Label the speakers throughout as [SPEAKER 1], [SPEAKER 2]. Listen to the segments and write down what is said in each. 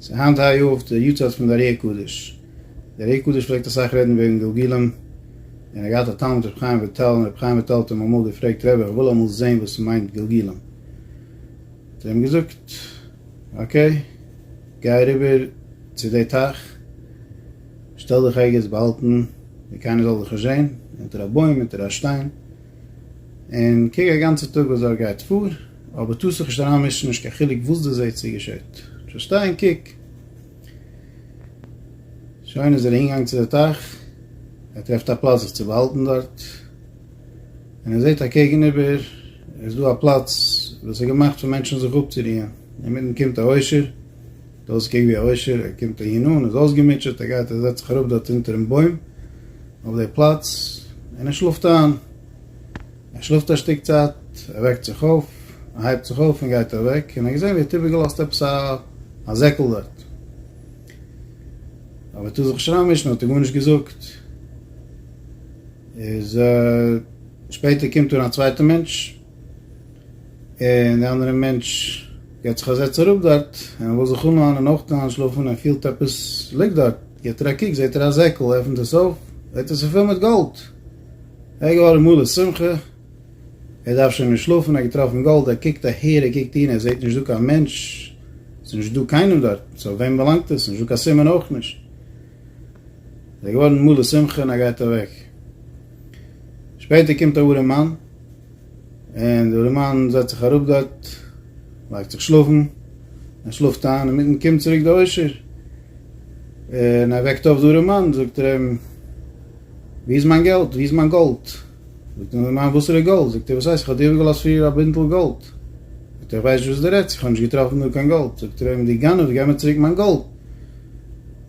[SPEAKER 1] ס'איז היינט היי יאר די יארצייט פון די ארי הקדוש. די ארי הקדוש פלעגט אסאך רעדן וועגן גלגולים, און ער האט געהאט א תלמיד רבי חיים וויטאל, און רבי חיים וויטאל האט אים אמאל געפרעגט, רבי איך וויל אמאל זען וואס ס'מיינט גלגולים. האט ער אים געזאגט, אקעי, גיי אריבער צו די טייך, שטעל דיך ערגעץ באהאלטן ווי קיינער זאל דיך נישט זען, אונטער א בוים, אונטער א שטיין, און קוק א גאנצע טאג וואס דארט גייט פאר, אבער טוה זיך נישט אריינמישן, נישט קיין חילוק וואס דו זעהט צו געשעט, דזשאסט שטיי און קוק. שוין איז ער אהינגעגאנגען צו די טייך, ער טרעפט א פלאץ זיך צו באהאלטן דארט, און ער זעהט אקעגן איבער איז דא א פלאץ וואס איז געמאכט פאר מענטשן זיך אפצורוען, אינמיטן קומט א עושר, זעהט אויס קוק ווי א עושר, ער קומט אהין אן, איז אויסגעמוטשעט, ער גייט ער זעצט זיך אראפ דארט אונטערן בוים אויף די פלאץ, און ער שלאפט איין. ער שלאפט א שטיק צייט, ער וועקט זיך אויף, ער הייבט זיך אויף און גייט אוועק, און ער האט געזען ווי ער האט איבערגעלאזט עפעס א זעקל דארט. אויב וועט ער זיך נישט אריינמישן האט ער גארנישט געזאגט. איז שפעטער קומט אן א צווייטער מענטש, און די אנדערע מענטש געט זיך א זעץ אראפ דארט, און ער וויל זיך אנלאנען און אויך איינשלאפן, ער פילט עפעס ליגט דארט, גיבט ער א קוק זעט ער א זעקל, עפנט עס אויף, זעט ער ס'איז פול מיט גאלד. ער איז געווארן מלא שמחה, ער דארף שוין נישט שלאפן, ער האט געטראפן גאלד, ער קוקט אהער, ער קוקט אהין, ער זעט נישט דא קיין מענטש, עס איז נישט דא קיינעם דארט, צו וועם באלאנגט עס, נישט דא קיין סימן אויך נישט. ער איז געווארן מלא שמחה און ער גייט אוועק. שפעטער קומט א ארעמאן. און דער מאן זעצט זיך אראפ דארט, לייגט זיך שלאפן, ער שלאפט איין, אינמיטן קומט צוריק די עושר, און ער וועקט אויף דארעם מאן, זאגט ער אים, ווי איז מיין געלט? ווי איז מיין גאלד? זאגט אים דער מאן, וואסערע גאלד? זאגט ער, וואס הייסט, איך האב דיר איבערגעלאזט פריער א בינטל גאלד? זאגט ער, איך ווייס נישט וואס דו רעדסט, איך האב נישט געטראפן דא קיין גאלד, זאגט ער אים, דו גנב, גיב מיר צוריק מיין גאלד,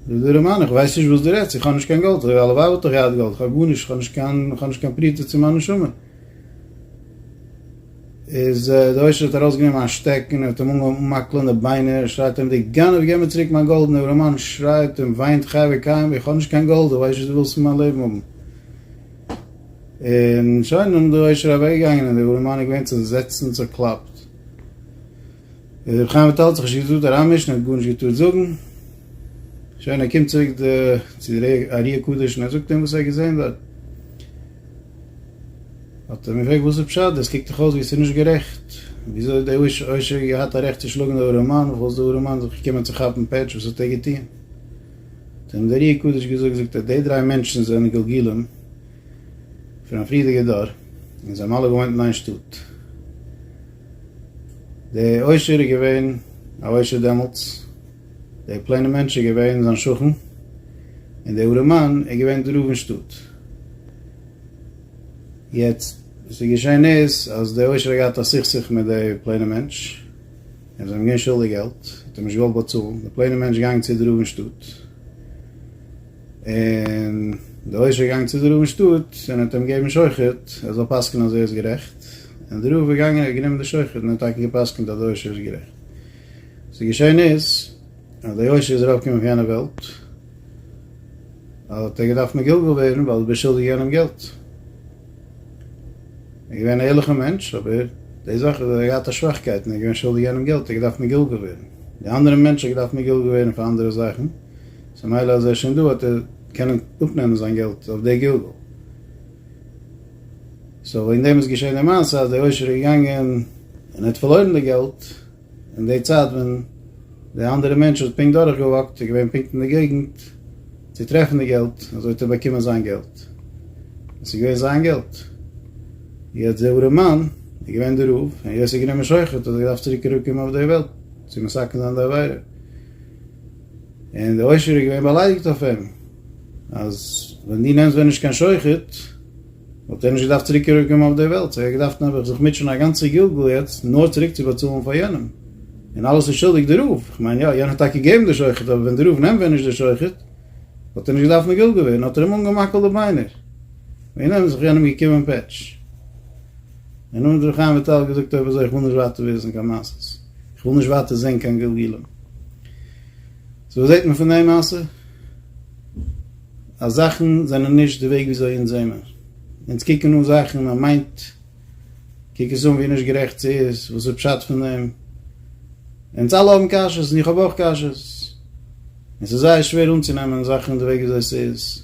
[SPEAKER 1] זאגט דער מאן, איך ווייס נישט וואס דו רעדסט, איך האב נישט קיין גאלד, הלוואי וואלט איך געהאט גאלד, איך האב גארנישט, איך האב נישט קיין פרוטה צו מיין נשמה. איז דער עושר האט ארויס גענומען א שטעקן און האט אים אנגעהויבן אנמאקלען די ביינער, שרייט אים די גנב געב מיר צוריק מיין גאלד און אברהמען שרייט און וויינט חי וקיים איך האב נישט קיין גאלד איך ווייס נישט וואס דו ווילסט פון מיין לעבן האבן. און שוין דערנאך איז דער עושר אוועק געגאנגען און דער אברהמען איז געווען צוזעצט און צוקלאפט. איז רבי חיים וויטאל האט זיך נישט געטראט אריינמישן ער האט גארנישט געטארט זאגן. שוין ער קומט צוריק צו דער ארי הקדוש און ער זאגט אים וואס ער האט געזען דארט. האט ער מיר געפרעגט וואס איז פשט דאס קוקט דאך אויס ווי עס איז נישט גערעכט, וויאזוי האט דער עושר געהאט א רעכט צו שלאגן דער ארעמאן וכו' איז דער ארעמאן זיך געקומען צו כאפן פעטש וואס האט ער געטון? האט אים דער רי י קדוש געזאגט זאגט ער די דריי מענטשן זענען גלגולים פון א פריערדיגע דור און זיי האבן אלע געוואוינט אין איין שטאט, דער עושר איז געווען א עושר דעמאלטס, דער פלעינער מענטש איז געווען זיין שכן, און דער ארעמאן איז געווען דער רב אין שטאט. יעצט, וואס איז געשען איז, אז דער עושר האט געהאט א סכסוך מיט דער פלעינער מענטש, און זיי האבן געווען שולדיג געלט, האט ער נישט געוואלט באצאלן, דער פלעינער מענטש געגאנגען צו דער רב אין שטאט, און דער עושר איז געגאנגען צו דער רב אין שטאט, און ער האט אים געגעבן שוחד, ער זאל פסק'ענען אז ער איז גערעכט, און דער רב איז געגאנגען, ער האט גענומען די שוחד, און ער האט טאקע געפסק'ענט אז דער עושר איז גערעכט. ס'איז געשען איז, אז דער יושע איז ארויפגעקומען פון יענע וועלט, האט ער געדארפט מגולגל ווערן, ווייל דו ביסט שולדיג יענעם געלט. ער איז געווען א ערליכער מענטש, אבער די זאך איז, אז ער האט געהאט א שוואכקייט, און ער איז געווען שולדיג יענעם געלט, ער האט געדארפט מגולגל ווערן. די אנדערע מענטש האט געדארפט מגולגל ווערן פאר אנדערע זאכן, ס'מילא אז ער איז שוין דא, האט ער קענען אפנעמען זיין געלט אויף די גלגול. סאו וועגן דעם איז געשען די מעשה אז דער עושר איז געגאנגען און ער האט פארלוירן די געלט אין די צייט ווען די אנדערע מענטש האט פונקט דורך געוואקט איז געווען פונקט אין די געגנט צו טרעפן די געלט אזוי האט ער באקומען זיין געלט עס איז געווען זיין געלט יעצט דער ארעמאן איז געווען די רב און יעצט איז גענומען שוחד האט ער געדארפט צוריק אראפ קומען אויף די וועלט צו מסכן זיין די עבירה. און דער עושר איז געווען באליידיגט אויף אים, אז ווען דו נעמסט ווען נישט קיין שוחד, וואלט ער נישט געדארפט צוריק צוריק קומען אויף דער וועלט, סא ער האט געדארפט נעבעך זיך מוטשען א גאנצע גלגול יעצט נאר צוריק צו באצאלן פאר יענעם, און אלעס איז שולדיג דער רב, איך מיין יא, יענער האט טאקע געגעבן די שוחד, אבער ווען דער רב נעמט ווען נישט די שוחד, וואלט ער נישט געדארפט מגולגל ווערן, האט ער אים אנגעמאקעלט די ביינער, און איז זיך יענעם געקומען פעטש. און האט ר' חיים וויטאל געזאגט אויב אזוי איך וויל נישט ווייטער וויסן קיין מעשות. כ'וויל נישט ווייטער זען קיין גלגולים. סאו וואס זעט מען פון די מעשה? אז זאכן זענען נישט די וועג וויאזוי אונז זעמער. אונז קוקן אן זאכן, מען מיינט, קוק עס אן ווי נישט גערעכט ס'איז, וואס איז פשט פון דעם? אונז אלע האבן קשיות און איך האב אויך קשיות. און ס'איז זייער שווער אנצונעמען זאכן די וועג וויאזוי ס'איז.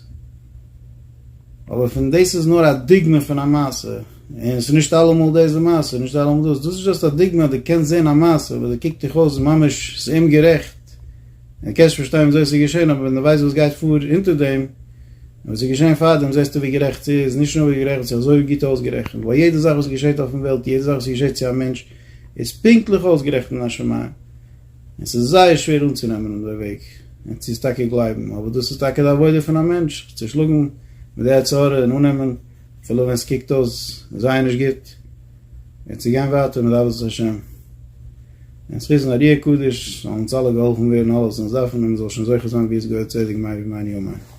[SPEAKER 1] אבער פון דאס איז נאר א דוגמא פון א מעשה. און ס'איז נישט אלעמאל דאס די מעשה, און נישט אלעמאל דאס, דאס איז דשאסט א דוגמא, דו קענסט זען א מעשה וואס דו קוקט דיך אויס ממש ס'איז אומגערעכט, און דו קענסט נישט פארשטיין וויאזוי ס'איז געשען, אבער ווען דו ווייסט וואס גייט פאר אונטער דעם, און וואס איז געשען פארדעם, זעסטו ווי גערעכט ס'איז, נישט נאר ווי גערעכט, ס'איז אזוי גוט אויסגערעכנט, ווייל יעדע זאך וואס געשעט אויפן וועלט, יעדע זאך וואס געשעט צו א מענטש, איז פונקטליך אויסגערעכנט אין א שמים, און ס'איז זייער שווער אנצונעמען אט די וועג, און צו עס טאקע גלייבן, אבער דאס איז טאקע די עבודה פון א מענטש, זיך צושלאגן מיט די יצר הרע און אננעמען. אפילו ווען עס קוקט אויס זייער נישט גוט, און צו גיין ווייטער מיט אהבת השם, און זיך היזן א רוח קודש, זאלן אונז אלע געהאלפן ווערן אלעס וואס אונז דארפן, און מען זאל שוין זוכה זיין ווי עס געהער צדק מאי ומיין יומיים.